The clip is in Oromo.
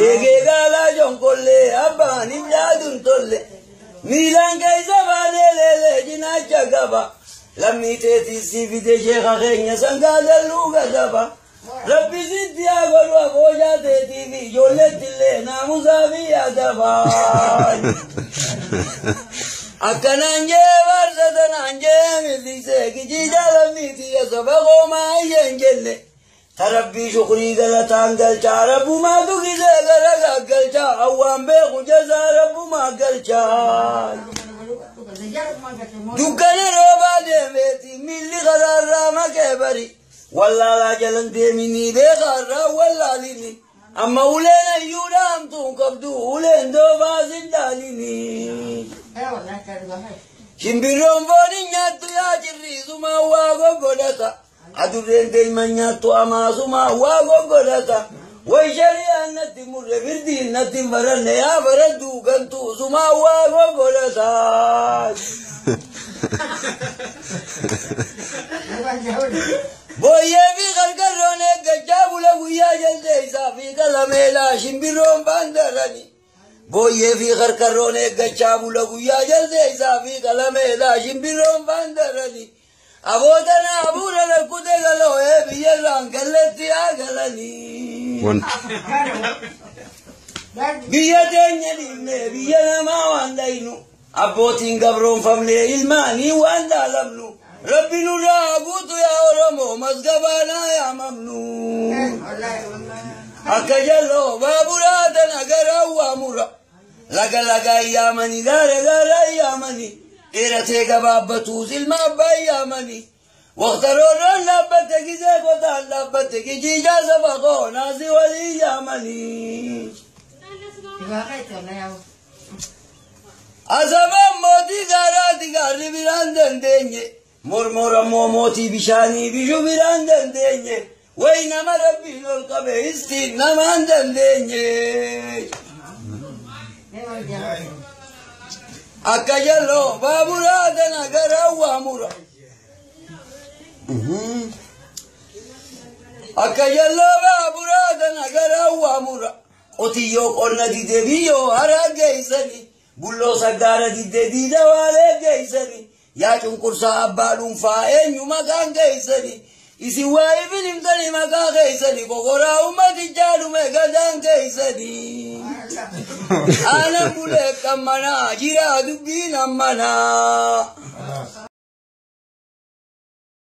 Eegee gaalaa jonkollee abbaan hin yaadun tolle miilaan keessa baanee leelee cinaacha qaba lammii teetii si fide sheeka keenya sangaa dalluu gadaba rabbi sitti haa godhu aboojaa teetii fi ijoolleetti illee naamusaa fi adaba akkanaan jee barsa tanaan jee millisee kijii jaalammiiti ya saba koomaa isheen jenne. Ta Rabbii shukrii galataan galchaa Rabbumaatu gisee gara gaggalcha Awwaan beeku jazaa Rabbumaa galcha Dukkana roobaa deemeeti miilli karaarraa makee bari Wallaalaa jalan deeminii beekaarraa wallaalini Amma uleen ayyuudha hamtuun qabdu uleen doobaa sin dhaalini Shimbirroon foon hin nyaattu yaa cirriisumaa waa goggodhata Adurreen deeman nyaattu amaasuma waa goggodhata. Way shari'aan natti murre firdiin natti hin baranne yaa baraddu gantuu suma waa goggodhata. Booyyee fi qarqarroon eeggachaa bula guyyaa jaldeessaa fi qalameelaa shimbirroon baandarani. Booyyee fi qarqarroon eeggachaa bula guyyaa jaldeessaa fi qalameelaa shimbirroon baandarani. Aboo tanaa abuura lakkute galoo ee biyyarraan galletti yaa galanii. Wanti. Biyya teenya dhiibnee biyya namaa waan dhaynu abbootiin gabroonfamnee ilmaanii waan dhaalamnu rabbi nurraa haa guutu yaa oromoo masgabaanaa yaa mamnu. Akka jalloo baaburaa tana garaa waa mura Laga lagaan yaamanii gaara gaaraan yaamanii dheeratee gabaabbatuu silma abbaan yaamanii waqta roorroon dhaabbatte gizee gotaan dhaabbatte gijiijaa saba koo naasii walii yaamanii. Asabaan mootii gaaraati gaarri biraan dandeenye Mormor ammoo mootii bishaanii bishu biraan dandeenye way nama rabbiin ol qabe istiin namaan dandeenye. Akka jalloo baaburaa dana garaa waa mura. Akka jalloo baaburaa dana garaa waa mura. Qotiyyoo qonna didee biyyoo haraa geessanii. Bulloo saggaara didee diida waalee geessanii. Yaa cunqursaa abbaa dhuunfaa eenyu maqaan keessani? Isin waa ifin himtani maqaa keessani kokoraa ummatichaa dhume gadaan keessani. Aanan bulee qammanaa jiraa dubbiin ammanaa.